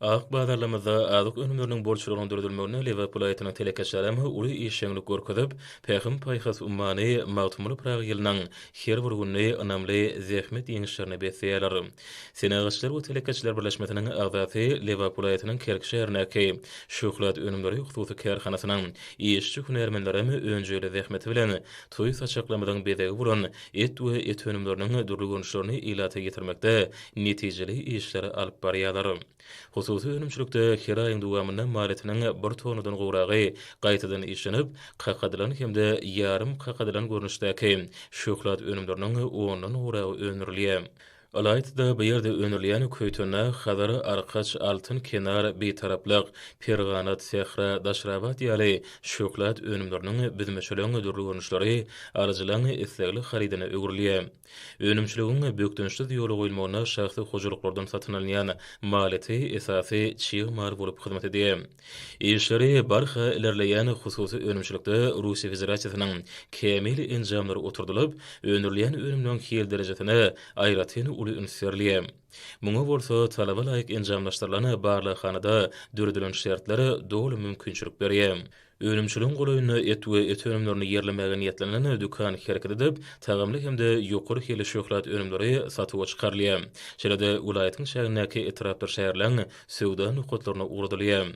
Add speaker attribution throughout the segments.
Speaker 1: Azyk bazarlarymyzda azyk önümleriniň bolçulygynyň döredilmeginde Lebap welaýatynyň telekeçilerem uly işjeňlik görkezip, Pähim-paýhas ummany Magtymguly Pyragy ýylynyň her bir gününi ynamly zähmet ýeňişlerine besleýärler. Senagatçylar we telekeçiler birleşmesiniň agzasy, Lebap welaýatynyň Kerki şäherindäki Şöhlat önümleri hususy kärhanasynyň işçi-hünärmenlerem önjeýli zähmeti bilen toý saçaklarymyzyň bezegi bolan et we et önümleriniň dürli görnüşlerini ilata ýetirmekde netijeli işleri alyp barýarlar. Hususy önümçilikde her aýyň dowamynda malyýetiniň bir tonnadan gowragy gaýtadan işlenip, kakadylan hem-de ýarym kakadylan görnüşdäki şöhlat önümleriniň ondan gowragy öndürilýär. Ylaýta-da, bu ýerde öndürilýän Köýtennag, Hazar, Arkaç, Altyn kenar, Bitaraplyk, Perganat, Sähra, Daşrabat ýaly şöhlat önümleriniň büzmeçeleň dürli görnüşleri alyjylaň islegli harydyna öwrülýär. Önümçiligiň bökdençsiz ýola goýulmagyna şahsy hojalyklardan satyn alynýan maliyeti esasy çig mal bolup hyzmat edýär. Işleri barha ilerleýän hususy önümçilikde Russiýa Federasiýasynyň kämil enjamlary oturdylyp, öndürilýän önümleriň hil derejesine aýratyn uly üns berilýär. Muňa bolsa talaba laýyk enjamlaşdyrylan barlaghanada döredilen şertler doly mümkinçilik berýär. Önümçiligiň golaýynda et we et önümlerini ýerlemäge niýetlenen dükan hereket edip, tagamly hem-de ýokary hilli şöhlat önümleri satuwa çykarylýar. Şeýle-de, welaýatyň çägindäki etrapdyr şäherleň söwda nokatlaryna ugradylýar.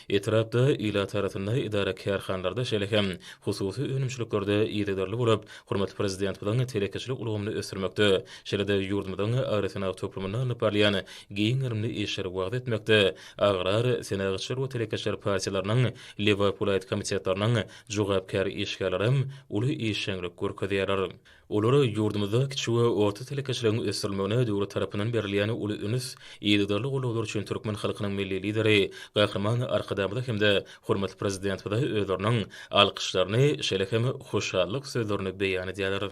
Speaker 1: Etrapda, ilatarasynda, edara-kärhanalarda, şeýle hem hususy önümçiliklerde yzygiderli bolup, hormatly Prezidentimiziň telekeçilik ulgamyny ösdürmekde, şeýle-de ýurdumyzyň agrosenagat toplumynda alnyp barylýan giň gerimli işleri wagyz etmekde Agrar, Senagatçylar we telekeçiler partiýalarynyň Lebap welaýat komitetleriniň jogapkär işgärleri hem uly işjeňlik görkezýärler. Olar ýurdumyzda kiçi we orta telekeçiligiň ösdürilmegine döwlet tarapyndan berilýän uly üns, yzygiderli goldawlar üçin türkmen halkynyň Milli Lideri Gahryman Arkadagymyza hem-de hormatly Prezidentimize özleriniň alkyşlaryny, şeýle hem hoşallyk sözlerini beýan edýärler.